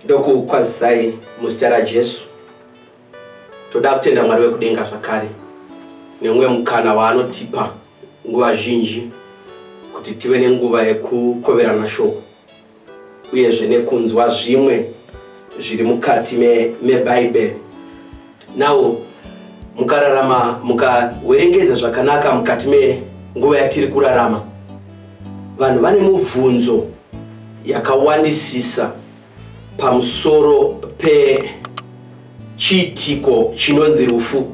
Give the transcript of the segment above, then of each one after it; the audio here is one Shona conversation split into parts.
ndokukwazisai muzita rajesu toda kutenda mwari wekudenga zvakare nemumwe mukana waanotipa nguva zhinji kuti tive nenguva yekukoverana shoko uyezve nekunzwa zvimwe zviri mukati mebhaibheri nawo mukararama mukawerengedza zvakanaka mukati menguva yatiri kurarama vanhu vane mubvunzo yakawandisisa pamusoro pechiitiko chinonzi rufu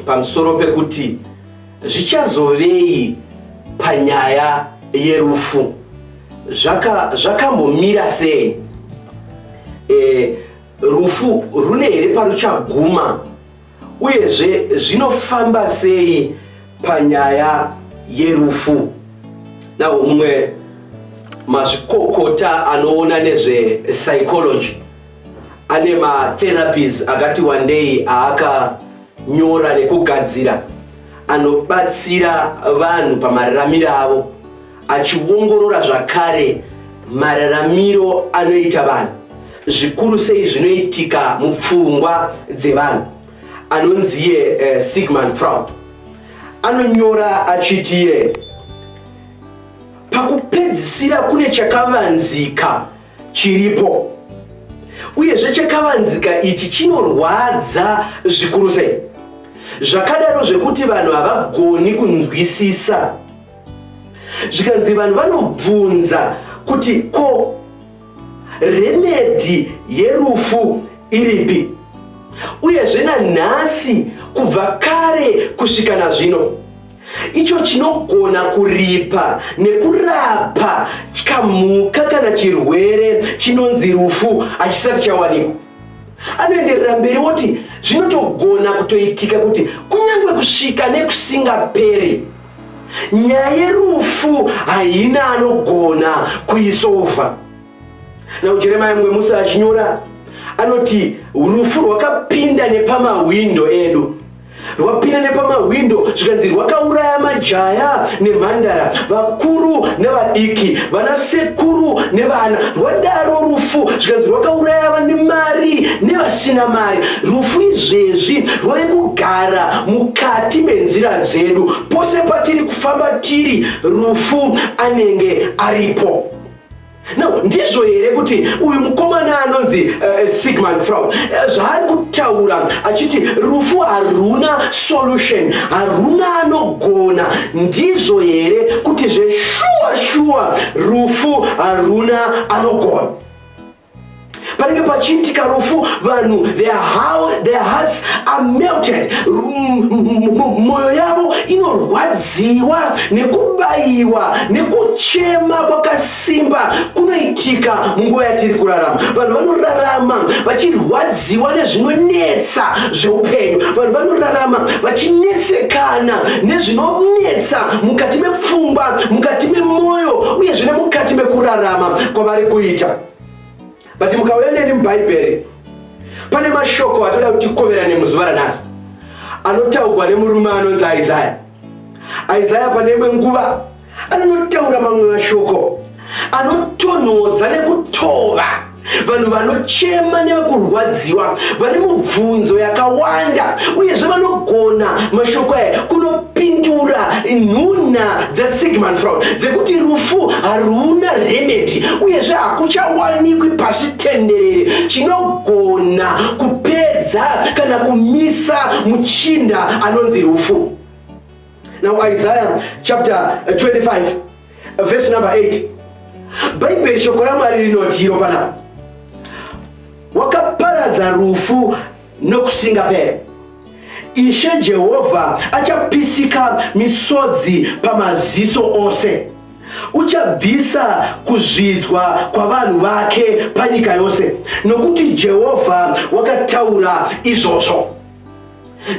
pamusoro pekuti Zvichazovei panyaya yerufu? Zvakambomira zvaka sei? E, rufu rune here paruchaguma? Uyezve zvinofamba sei panyaya yerufu? Na umwe mazvikokota anoona nezvepsychology ane matherapies akati wandei aaka Nyora rekugadzira anobatsira vanhu pamararamiro avo achiongorora zvakare mararamiro anoita vanhu zvikuru sei zvinoitika mupfungwa dzevanhu anonziye eh, sigmund fraud anonyora achitiye pakupedzisira kune chakavanzika chiripo uyezve chakavanzika ichi chinorwadza zvikuru sei zvakadaro zvekuti vanhu havagoni kunzwisisa zvikanzi vanhu vanobvunza kuti ko remedhi yerufu iripi uyezve nanhasi kubva kare kusvika nazvino icho chinogona kuripa nekurapa kamhuka kana chirwere chinonzi rufu hachisati chawanikwa anoenderera mberi woti zvinotogona kutoitika kuti kunyange kusvika nekusingaperi nyaya yerufu haina anogona kuisova naujeremaya mumwe musi achinyora anoti rufu rwakapinda nepamahwindo edu rwapinda nepamahwindo zvikanzi rwakauraya majaya nemhandara vakuru nevadiki vana sekuru nevana rwadaro rufu zvikanzi rwakauraya vane mari nevasina mari rufu izvezvi rwave kugara mukati menzira dzedu pose patiri kufamba tiri rufu anenge aripo No, ndizvo here kuti uyu mukomana anonzi uh, eh, Sigmund Freud eh, zvaari kutaura achiti rufu haruna solution haruna anogona ndizvo here kuti zveshuwa shuwa rufu haruna anogona panenge pachiitika rufu vanhu their hearts are melted mwoyo yavo inorwadziwa nekubayiwa nekuchema kwakasimba kunoitika munguva yatiri kurarama vanhu vanorarama vachirwadziwa nezvinonetsa zveupenyu vanhu vanorarama vachinetsekana nezvinonetsa mukati mepfungwa mukati memwoyo uyezve nemukati mekurarama kwavari kuita but mukauya neni mubhaibheri pane mashoko atoda kuti tikoverane muzuva ranhasi anotaurwa nemurume anonzi isaya isaya pane imwe nguva anonotaura mamwe mashoko anotonhodza nekutova vanhu vanochema nevekurwadziwa vane mubvunzo yakawanda uyezve vanogona mashoko aya kuno pindura nhunha dzasigmund fraud dzekuti rufu haruna remedi uyezve hakuchawanikwi pasi tenderere chinogona kupedza kana kumisa muchinda anonzi rufu now isaiah chapter 25 verse number 8 bhaibheri shoko ramwari rinoti iro panapa wakaparadza rufu nokusingaperi. Ishe Jehovha achapisika misodzi pamaziso ose. Uchabvisa kuzvidzwa kwavanhu vake panyika yose, nokuti Jehovha wakataura izvozvo.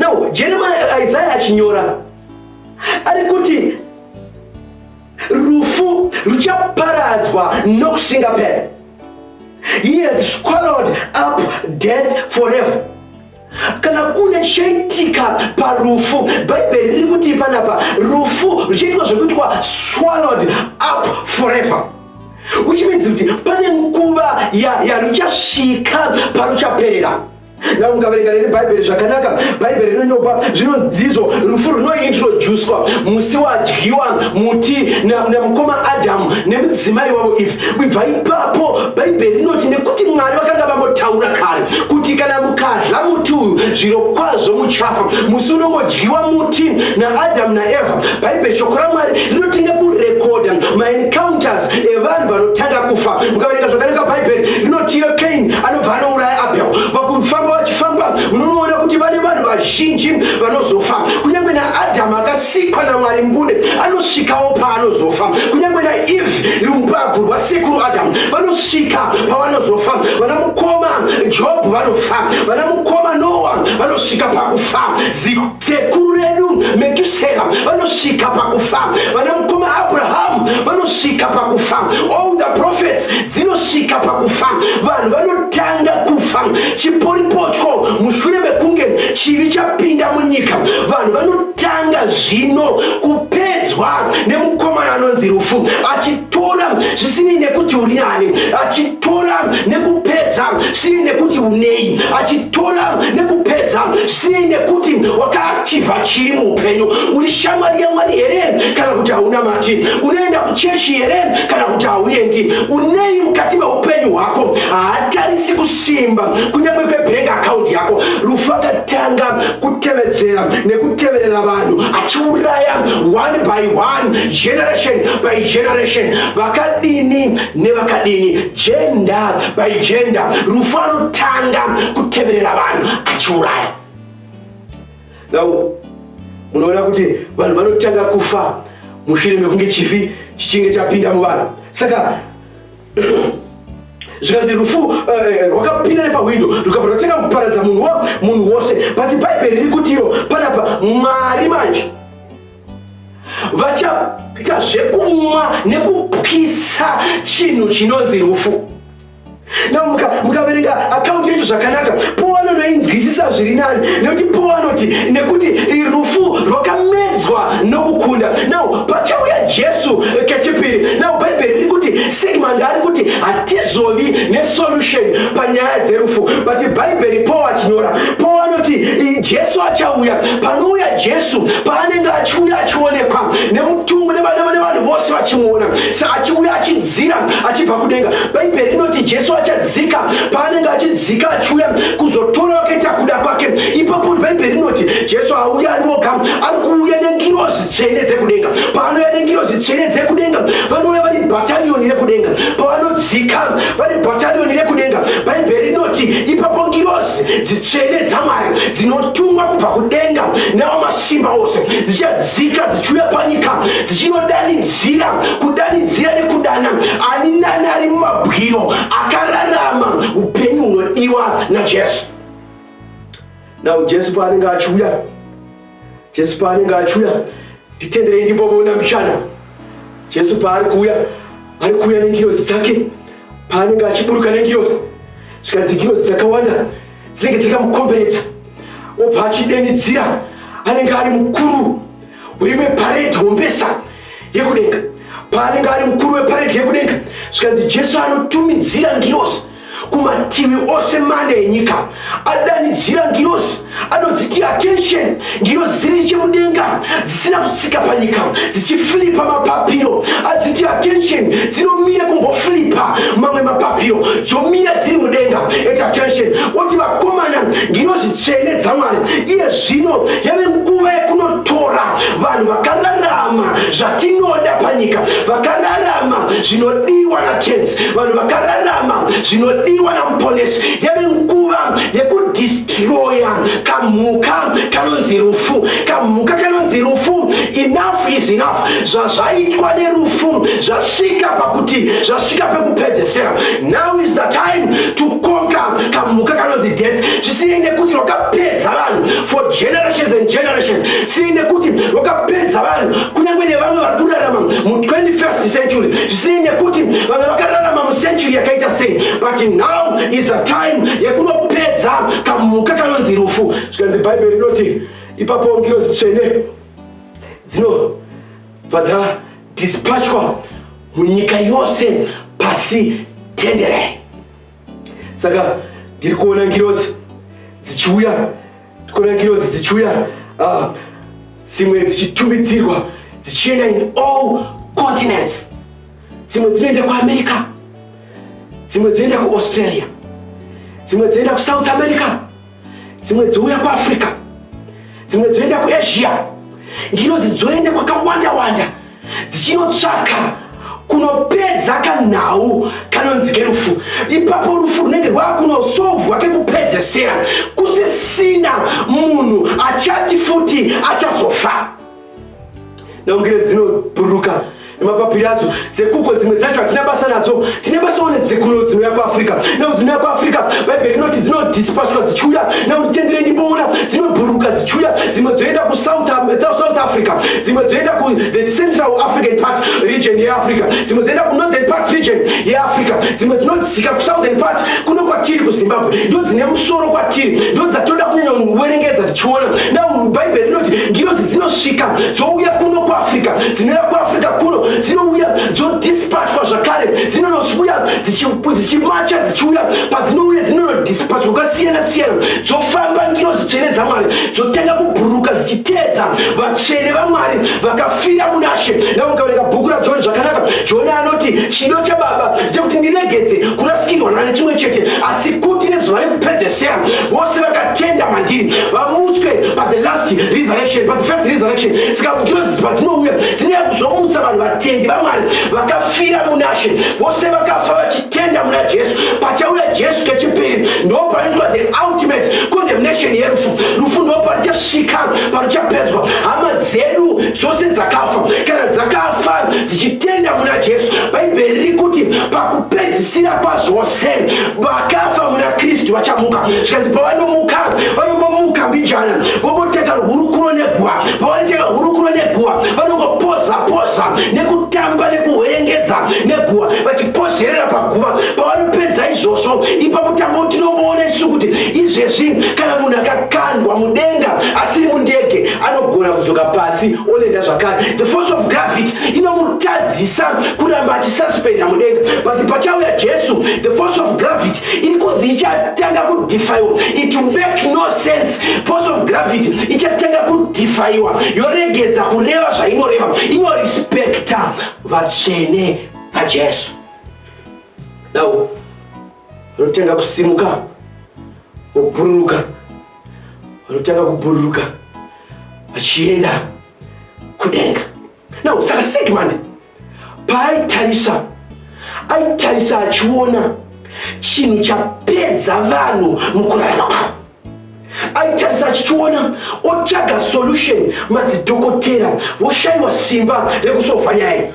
Now, Jeremiah, Isaiah achinyora ari kuti rufu ruchaparadzwa nokusingapera he had swallowed up death forever kana kune chaitika parufu bhaibheri riri kuti panapa rufu ruchaitwa zvekuitwa swallowed up forever uchimedzi kuti pane nguva yaruchasvika ya paruchaperera Now mukaverenga neni bhaibheri zvakanaka bhaibheri rinonyopa zvinonzizvo rufu runointroducwa musi wadyiwa muti namukoma adamu nemudzimai wavo ive kubva ipapo bhaibheri rinoti nekuti mwari vakanga vambotaura kare kuti kana mukadla muti uyu zviro kwazvo muchafa musi unongodyiwa muti naadamu naevha bhaibheri shoko ramwari rinoti nekurekodha maencounters evanhu vanotanga kufa mukaverenga zvakarenga bhaibheri rinotiyo kaini anobva anouraya abel vakufamba vachifamba munonoona kuti vane vanhu vazhinji vanozofa kunyange naadhamu akasikwa namwari mbune anosvikawo paanozofa kunyange naeve rumbabvu rwasekuru adhamu vanosvika pavanozofa vana mukoma jobhu vanofa vana mukoma noa vanosvika pakufa sekuru redu metusera vanosvika pakufa vana mukoma abrahamu vanosvika pakufa all the prophets dzinosvika pakufa vanhu vanotanga kufa chiporipotyo mushure mekunge chivi chapinda munyika vanhu vanotanga zvino kupedzwa nemukomana anonzi rufu achitora zvisinei nekuti uri nani achitora nekupedza zvisinei nekuti unei achitora nekupedza sei nekuti wakaachiva chii muupenyu uri shamwari yamwari here kana kuti hauna mati unoenda kuchechi here kana kuti hauendi unei mukati meupenyu hwako haatarisi kusimba kunyange kwebhengi akaundi yako rufu akatanga kutevedzera nekuteverera vanhu achiuraya one by one generation by generation vakadini nevakadini jenda by jenda rufu anotanga kuteverera vanhu achiuraya now munoona kuti vanhu vanotanga kufa mushure mekunge chifi chichinge chapinda muvanhu saka zvikanzi rufu uh, rwakapinda nepahwindo rukabva rwatanga kuparadza munhu munhu wose but bhaibheri riri kutiro panapa mwari manje vachaita zvekumwa nekupwisa chinhu chinonzi rufu na mukaverenga muka akaunti yacho zvakanaka po anonoinzwisisa zviri nani nekuti po anoti nekuti rufu rwakamedzwa nokukunda now pachauya jesu eh, kechipiri now bhaibheri riri kuti sigmund ari kuti hatizovi nesolution panyaya dzerufu but bhaibheri po achinyora po anoti jesu achauya panouya jesu paanenge achiuya achionekwa nemutumbu nevanhu vose vachimuona sa achiuya achidzira achibva kudenga bhaibheri rinoti jesu achadzika paanenge achidzika achiuya kuzotora akaita kuda kwake ipapo bhaibheri rinoti jesu auya ari woga ari kuuya nengirozi tsvene dzekudenga paanouya nengirozi tsvene dzekudenga vanouya vari bhatariyoni rekudenga pavanodzika vari bhatariyoni rekudenga bhaibheri rinoti ipapo ngirozi dzitsvene dzamwari dzinotungwa kubva kudenga nevamasimba ose dzichadzika dzichiuya panyika dzichinodanidzira kudanidzira nekudana ani nani ari mumabwiro akararama upenyu hunodiwa najesu nau jesu paanenge achiuya Jesu paanenge achiuya nditenderei ndimbomuona mbichana. Jesu paari kuuya ari kuuya nengirozi dzake paanenge achiburuka nengirozi zvikanzi ngirozi dzakawanda dzinenge dzakamukomberedza obva achidenidzira anenge ari mukuru weimwe paredhi hombesa yekudenga paanenge ari mukuru weparedhi yekudenga zvikanzi jesu anotumidzira ngirozi kumativi ose mana enyika adanidzira ngirozi anodziti attention ngirozi dziri chemudenga dzisina kutsika panyika dzichifilipa mapapiro adziti attention dzinomira kumbofilipa mamwe mapapiro dzomira dziri mudenga at attention oti vakomana ngirozi tsvene dzamwari iye zvino yave nguva yekunotora vanhu vakararama zvatinoda panyika vakararama zvinodiwa natenzi vanhu vakararama zvinodiwa namuponesi yave nguva yekudistroya kamhuka kanonzi rufu kamhuka kanonzi rufu enough is enough zvazvaitwa nerufu zvasvika pakuti zvasvika pekupedzesera now is the time to conquer kamhuka kanonzi death zvisinei nekuti rwakapedza vanhu for generations and generations sinei nekuti rwakapedza vanhu kunyange nevamwe vari kurarama mu 21st century sei nekuti vamwe vakararama mucentury yakaita sei but now is a time yekunopedza kamhuka kanonzi rufu zvikanzi bhaibheri rinoti ipapo ngirozi tsvene dzinobva dzadispachwa munyika yose pasi tenderei saka ndiri kuona ngirozi dzichiuya ndiri kuona ngirozi dzichiuya ah, dzimwe dzichitumidzirwa dzichienda in all continents dzimwe dzinoenda kuamerica dzimwe dzinoenda kuaustralia dzimwe dzinoenda kusouth america dzimwe dzouya kuafrica dzimwe dzoenda kuasia ndinozi dzoenda kwakawanda wanda dzichinotsvaka kunopedza kanhau kanonzi kerufu ipapo rufu runenge rwakunosovwa kekupedzesera kusisina munhu achati futi achazofa naungire dzinobhuruka nemapapiri adzo dzekuko dzimwe dzacho hatina basa nadzo tine basawo nedzekuno dzinouya kuafrica nau dzinouya kuafrica bhaibheri rinoti dzinodispashwa dzichiuya nau nditendere ndimboona dzinobhuruka dzichiuya dzimwe dzoenda kusouth um, africa dzimwe dzoenda kuthe central african part region yeafrica dzimwe dzoenda kunorthern part region yeafrica dzimwe dzinodzika kusouthern part kuno kwatiri kuzimbabwe ndo dzine musoro kwatiri ndo dzatoda kunyanya kuverengedza chiona now bhaibheri rinoti ngirozi dzinosvika dzouya kuno kuafrica dzinouya kuafrica kuno dzinouya dzodispachwa zvakare dzinonosuya dzichimacha dzichiuya padzinouya dzinonodispachwa kwakasiyana siyana dzofamba ngirozi tsvene dzamwari dzotanga kubhuruka dzichiteedza vatsvene vamwari vakafira munashe navo mukavereka bhuku rajoni zvakanaka joni anoti chido chababa chekuti ndiregedze kurasikirwa nane chimwe chete asi kuti nezuva rekupedzesera vose vaka tenda mandiri vamutswe pa the last resurrection pa the first resurrection saka mukirozisi padzinouya dzinouya kuzomutsa vanhu vatendi vamwari vakafira munashe vose vakafa vachitenda muna jesu pachauya jesu kechipiri ndopanoitwa the ultimate condemnation yerufu rufu ndoparichasvika paruchapedzwa hama dzedu dzose dzakafa kana dzakafa dzichitenda muna jesu bhaibheri riri kuti pakupedzisira kwazvose vakafa muna kristu vachamuka zvikanzi pavanomuka vanombomuka mbijana vomboteka hurukuro neguva pavanoteka hurukuro neguva vanongopoza poza nekutamba nekuhwerengedza neguva vachipozerera paguva pavanopedza izvozvo ipapo tango tinomboona isu kuti izvezvi kana munhu akakandwa mudenga asiri mundege anogona kudzoka pasi onenda zvakare the force of gravity inomutadzisa kuramba suspend hamudenga but pachauya jesu the force of gravity iri kunzi ichatanga kudefaiwa it make no sense force of gravity ichatanga kudefaiwa yoregedza kureva zvainoreva inorespekta vatsvene vajesu now vanotanga kusimuka vobhururuka vanotanga kubhururuka vachienda kudenga now saka sigmund paaitarisa aitarisa achiona chinhu chapedza vanhu mukurarama kwavo aitarisa achichiona otsvaga solution madzidhokotera voshaiwa simba rekusova nyaya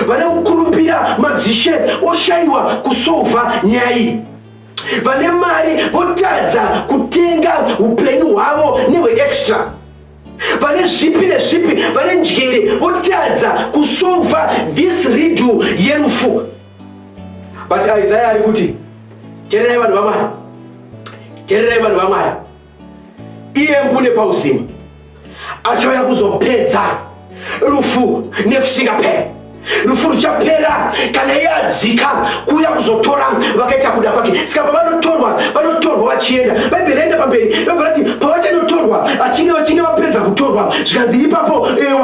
vane mukurumbira madzishe oshaiwa kusova nyaya iyi vane mari votadza kutenga upenyu hwavo nehweextra vane zvipi nezvipi vane njere votadza kusova this ridu yerufu but isaya ari kuti tererai vanhu vamwari tererai vanhu vamwari iye mbune pauzima achauya kuzopedza rufu nekusingaperi rufu ruchapera kana iye adzika kuuya kuzotora vakaita kuda kwake saka pavanotorwa vanotorwa vachienda bhaibheri raenda pamberi robva rati pavachanotorwa vachinge vachinge vapedza kutorwa zvikanzi ipapo eh,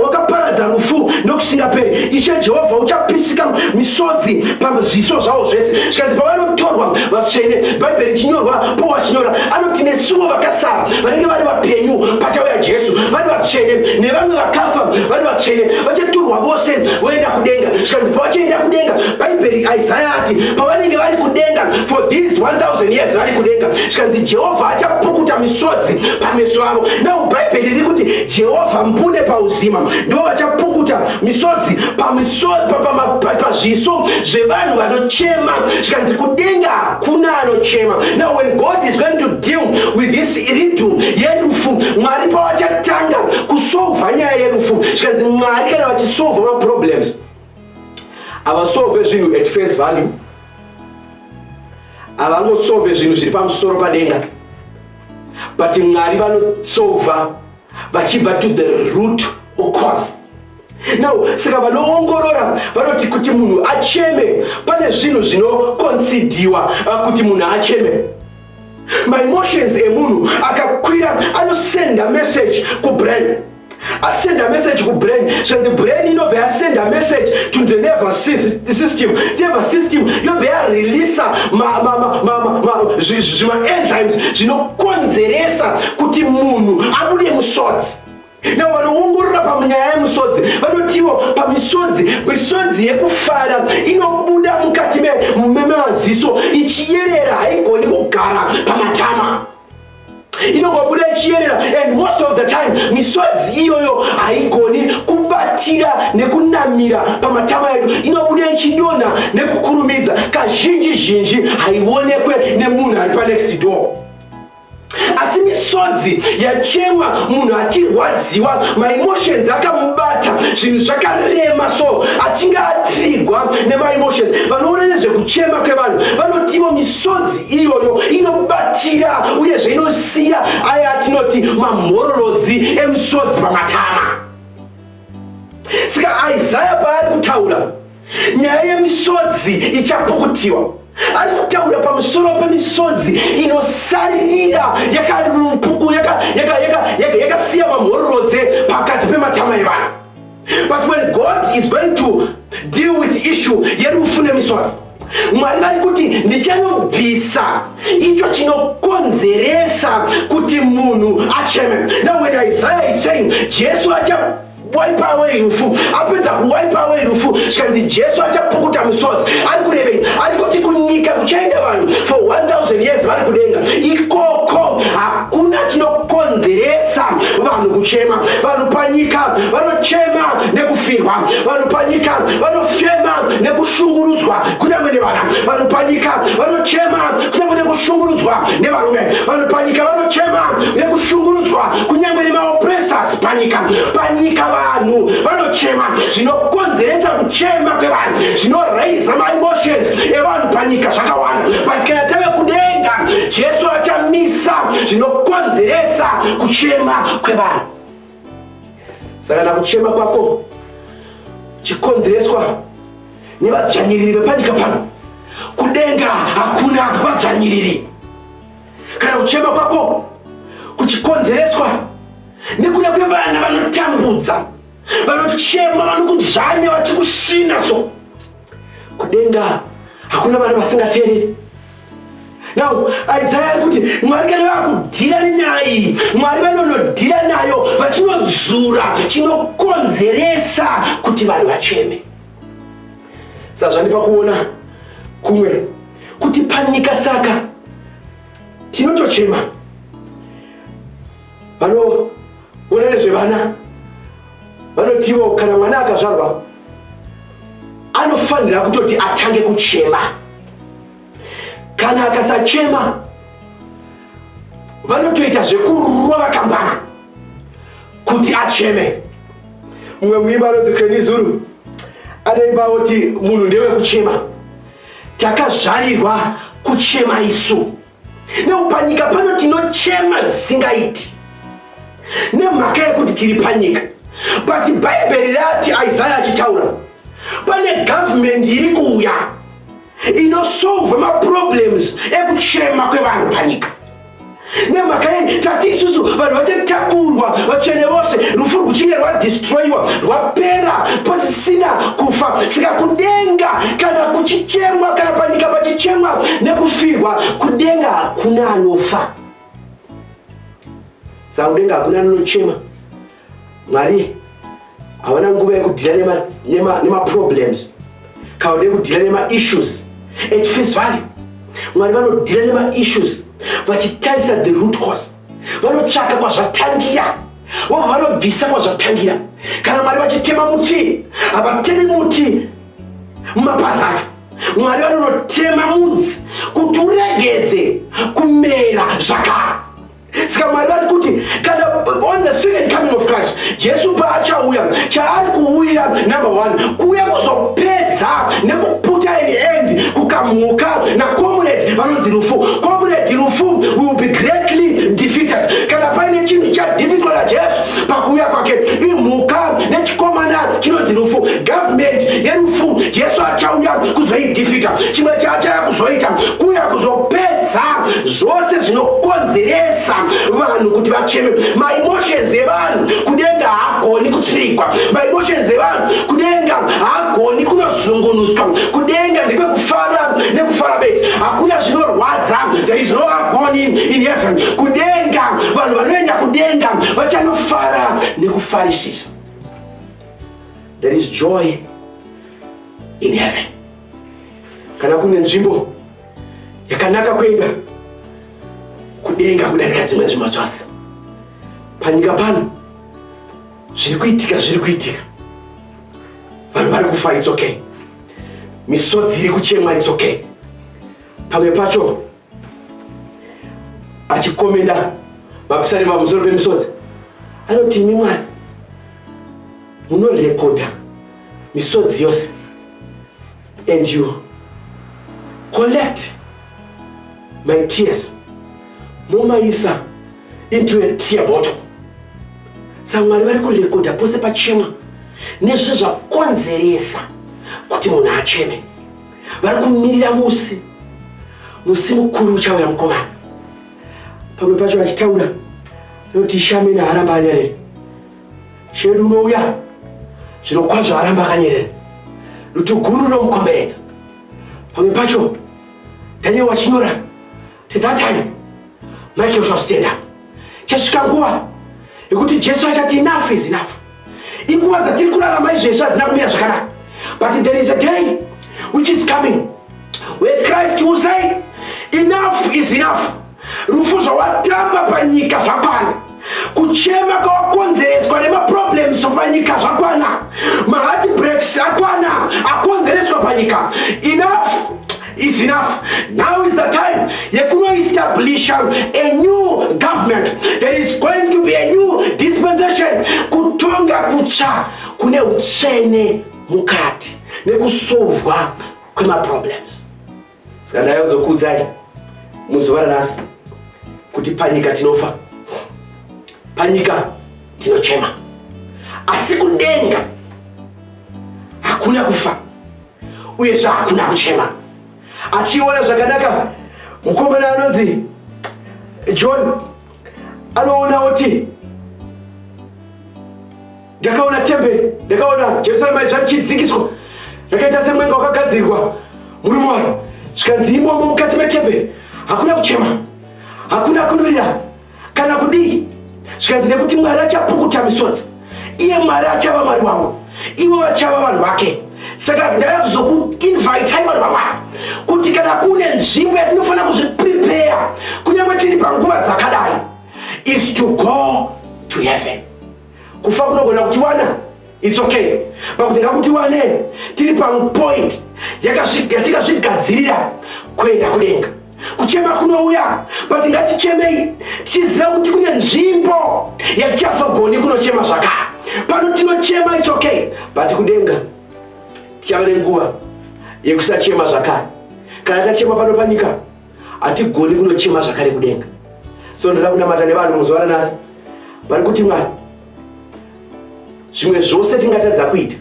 wakaparadza rufu nokusingaperi ishe jehovha uchapisika misodzi pazviso zvavo zvese zvikanzi pavanotorwa vatsvene bhaibheri chinyorwa powachinyora anoti nesuwo vakasara vanenge vari vapenyu pachauya jesu vari vatsvene nevamwe vakafa vari vatsvene vachaturwa vose voenda kudenga zvikanzi pavachaenda kudenga bhaibheri isaya ati pavanenge vari kudenga for these 1000 years vari kudenga zvikanzi jehovha achapukuta misodzi pameso avo nau bhaibheri riri kuti jehovha mbune pauzima ndivo vachapukuta misodzi pazviso zvevanhu vanochema zvikanzi kudenga kuna anochema now when god is going to deal with this iridu yerufu mwari pavachatanga kusolva nyaya yerufu zvikanzi mwari kana vachisolva maproblems havasolve zvinhu at face value havangosolve zvinhu zviri pamusoro padenga but mwari vanosolva vachibva to the root ocause now saka vanoongorora vanoti kuti munhu acheme pane zvinhu zvinokonsidiwa uh, kuti munhu acheme maemotions emunhu akakwira anosenda message kubrain asenda message kubrain zvanzi brain inobva yasenda message to the nerve system nerve system yobva yareleasa zvimaenzymes zvinokonzeresa kuti munhu abude musodzi Now vanoongorora pamunyaya yemusodzi vanotiwo pamisodzi misodzi yekufara inobuda mukati memaziso ichiyerera haigoni kugara pamatama inongobuda ichiyerera and most of the time misodzi iyoyo haigoni kubatira nekunamira pamatama edu inobuda ichidonha nekukurumidza kazhinji zhinji haionekwe nemunhu ari panext door asi misodzi yachemwa munhu achirwadziwa maemotions akamubata zvinhu zvakarema so achinge atrigwa nemaemotions vanoona nezvekuchema kwevanhu vanotiwo misodzi iyoyo inobatira uyezve inosiya aya atinoti mamhororodzi emusodzi pamatama saka isaya paari kutaura nyaya yemisodzi ichapukutiwa ari kutaura pamusoro pemisodzi inosaririra yakapuku yakasiya mamhororodze pakati pematama evanhu but when god is going to deal with issue yerufu nemisodzi mwari vari kuti ndichanobvisa icho chinokonzeresa kuti munhu acheme now when isaiah is saying jesu acha wipe away rufu apedza kuwipe away rufu zvikanzi jesu achapukuta misodzi ari kurevei ari kuti kunyika kuchaenda vanhu for 1000 years vari kudenga ikoko hakuna chinokonzeresa vanhu kuchema vanhu panyika vanochema nekufirwa vanhu panyika vanofema nekushungurudzwa kunyange nevana vanhu panyika vanochema kunyange nekushungurudzwa nevarume vanhu panyika vanochema nekushungurudzwa kunyange nemaopresas panyika panyika vanhu vanochema zvinokonzeresa kuchema kwevanhu zvinoraisa maemotions evanhu panyika zvakawanda but kana tave kudenga jesu achamisa zvinokonzeresa kuchema kwevanhu saka na kuchema kwako chikonzereswa nevadzvanyiriri vepanyika pano kudenga hakuna vadzvanyiriri Kana kuchema kwako kuchikonzereswa nekuda kwevana vanotambudza, vanochema, vanokudzvanya, vachikusvina so kudenga hakuna vana vasingateereri. Now Isaiah ari kuti Mwari kana vakudhira nenyaya iyi, Mwari vanonodhira nayo vachinodzura chinokonzeresa kuti vanhu vacheme. sazvandipa kuona kumwe kuti panika saka tinotochema vanoona nezvevana vanotiwo kana mwana akazvarwa anofanira kutoti atange kuchema kana akasachema vanotoita zvekurova kambama kuti acheme mumwe muimba anonzi creni zuru anoimba kuti munhu ndewe kuchema takazvarirwa kuchema isu neupanyika pano tinochema zvisingaiti nemhaka yekuti tiri panyika but bhaibheri rati isaya achitaura pane gavhumendi iri kuuya inosolva maproblems ekuchema kwevanhu panyika nemhaka yei tati isusu vanhu vachatakurwa vatsvene vose rufu rwuchinge rwadistroyiwa rwapera pasisina kufa saka kudenga kana kuchichemwa kana panyika pachichemwa nekufirwa kudenga hakuna anofa saka kudenga hakuna anochema mwari hawana nguva yekudhira nemaproblems nema, nema kana ude kudhira nemaissues at face value mwari vanodhira nemaissues vachitarisa the root cause vanotsvaka kwazvatangira vobva vanobvisa kwazvatangira kana mwari vachitema muti havatemi muti mumapazi acho mwari vanonotema mudzi kuti uregedze kumera zvakara saka mwari vari kuti kana on the second coming of christ jesu paachauya chaari kuuyira number one kuuya kuzopedza nekuputa and end kukamhuka nakomuredi vanonzi rufu komuredi rufu will be greatly defeated kana paine chinhu chadhifitwa najesu pakuuya kwake imhuka nechikomana chinonzi rufu gavhumenti yerufu jesu achauya kuzoidhifita chimwe chaachaya kuzoita kuuya kuzopedza zvose zvinokonzeresa vanhu kuti vacheme maemotions evanhu kudenga haagoni kutsvikwa maemotions evanhu kudenga haagoni kunozungunutswa kudenga ndekwekufara nekufara bedzi hakuna zvinorwadza there is no agony in heaven kudenga vanhu vanoenda kudenga vachanofara nekufarisisa there is joy in heaven kana kune nzvimbo yakanaka kuenda kudenga kudarika dzimwe nzvimbo dzose panyika pano zviri kuitika zviri kuitika vanhu vari kufa it's okay misodzi iri kuchemwa it's okay pamwe pacho achikomenda vapisari pamusoro pemisodzi anoti imi mwari munorekodha misodzi yose and you collect my tears momaisa into a tear bottle samwari vari kurekodha pose pachema nezve zvakonzeresa kuti munhu acheme vari kumirira musi musi mukuru uchauya mukomana pamwe pacho vachitaura noti shamena haramba anyarere Shedu unouya zviro kwazvo aramba akanyerera dutu guru rinomukomberedza pamwe pacho Daniel wachinyora to that time Michael shall stand up chasvika nguva yekuti Jesu achati enough is enough inguva dzatiri kurarama izvezvi hadzina kumira zvakanaka but there is a day which is coming where Christ will say enough is enough Rufu zvawatamba panyika zvakwana, kuchema kwawakonzereswa nemaproblems panyika zvakwana, maheartbreaks akwana akonzereswa panyika. Enough is enough. Now is the time yekunoestablisha a new government. There is going to be a new dispensation. Kutonga kutsva kune uchene mukati nekusovwa kwemaproblems. Saka ndaya kuzokuudzai muzuva ranhasi kuti panyika tinofa, panyika tinochema, asi kudenga hakuna kufa uye zvahakuna kuchema. Achiona zvakanaka mukomana anonzi John anoona oti Ndakaona temberi, ndakaona Jerusarema yacho richidzikiswa, rakaita semwenga wakagadzirwa murume waro, zvikanzi imomo mukati metemberi hakuna kuchema, hakuna kurira kana kudii, zvikanzi nekuti Mwari achapukuta misodzi, iye Mwari achava Mwari wavo, ivo vachava vanhu vake. Saka ndava kuzokuinvitai vanhu vaMwari kuti kana kune nzvimbo yatinofanira kuzviprepare kunyange tiri panguva dzakadai is to go to heaven. Kufa kunogona kutiwana its okay pakuti ngakutiwane tiri pamupoint yatikazvigadzirira kuenda kudenga. Kuchema kunouya but ngatichemei tichiziva kuti kune nzvimbo yatichazogoni kunochema zvakare. Pano tinochema its okay but kudenga tichava nenguva yekusachema zvakare kana tachema pano panyika. hatigoni kunochema zvakare kudenga so ndoda kunamata nevanhu muzuva ranasi vari kuti mwari zvimwe zvose tingatadza kuita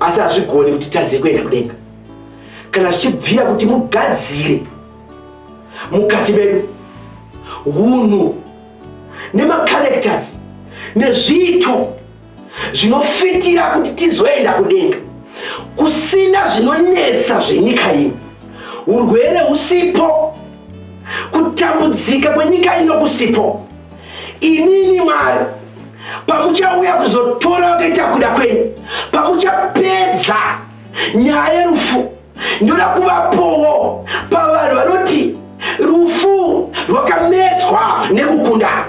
asi hazvigoni kuti tadze kuenda kudenga kana zvichibvira kuti mugadzire mukati medu hunhu nemacharacters nezviito zvinofitira kuti tizoenda kudenga kusina zvinonetsa zvenyika ino urwere usipo kutambudzika kwenyika ino kusipo inini mwari pamuchauya kuzotora vakaita kuda kwenyu pamuchapedza nyaya yerufu ndoda kuvapowo pavanhu vanoti rufu rwakamedzwa nekukunda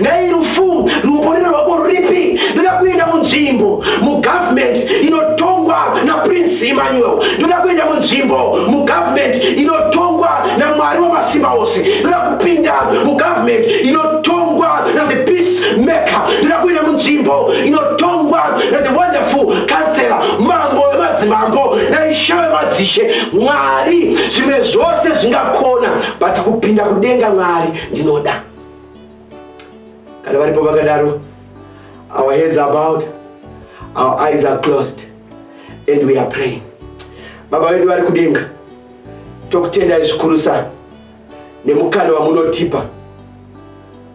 Nhai rufu rumborero rwako ruripi? Ndoda kuenda munzvimbo mugovernment inotongwa naPrince Emmanuel. Ndoda kuenda munzvimbo mugovernment inotongwa naMwari wamasimba ose. Ndoda kupinda mugovernment inotongwa naThe Peace Maker. Ndoda kuenda munzvimbo inotongwa naThe Wonderful Counselor, mambo wemadzimambo naishe wemadzishe, Mwari zvimwe zvose zvingakona, but kupinda kudenga Mwari ndinoda. kana varipo vakadaro our heads are bowed our eyes are closed and we are praying baba vedu vari kudenga tokutendai zvikurusa nemukana wamunotipa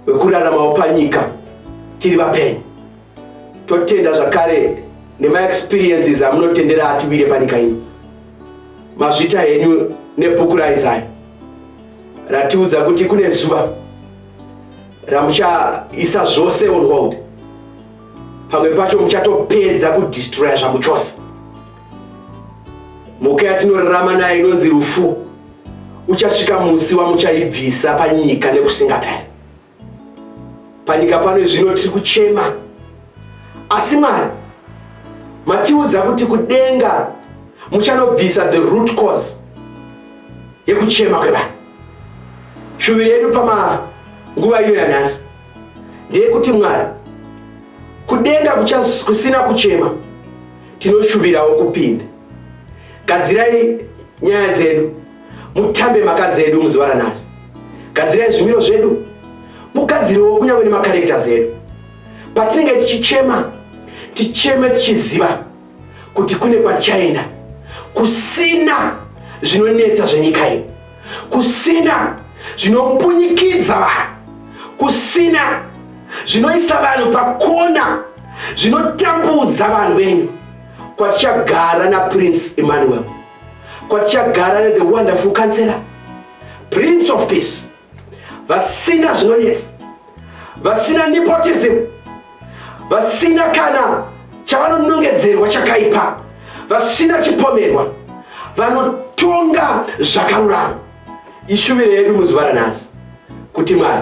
wekuraramawo panyika tiri vapenyu totenda zvakare nemaexperiences amunotendera atiwire panyika ino mazvita henyu nebhuku raizaya ratiudza kuti kune zuva ramuchaisa zvose on hold pamwe pacho muchatopedza kudistroya zvamu chose mhuka yatinorarama nayo inonzi rufu uchasvika musi wamuchaibvisa panyika nekusingaperi Panyika pano zvino tiri kuchema, asi Mwari matiudza kuti kudenga muchanobvisa the root cause yekuchema kwevanhu. Shuviro yedu pamanguva ino yanhasi ndeyekuti Mwari, kudenga kusina kuchema, tinoshuvirawo kupinda. Gadzirai nyaya dzedu mutambe makadzi edu muzuva ranhasi gadzirai zvimiro zvedu mugadzirewo kunyange nemakarektas edu patinenge tichichema ticheme tichiziva kuti kune kwatichaenda kusina zvinonetsa zvenyika iyi kusina zvinombunyikidza vanhu kusina zvinoisa vanhu pakona zvinotambudza vanhu venyu kwatichagara naprince emmanuel kwatichagara ne the wonderful counselor prince of peace vasina zvinonetsa vasina nepotism vasina kana chavanonongedzerwa chakaipa vasina chipomerwa vanotonga zvakarurama ishuviro yedu muzuva ranhasi kuti mwari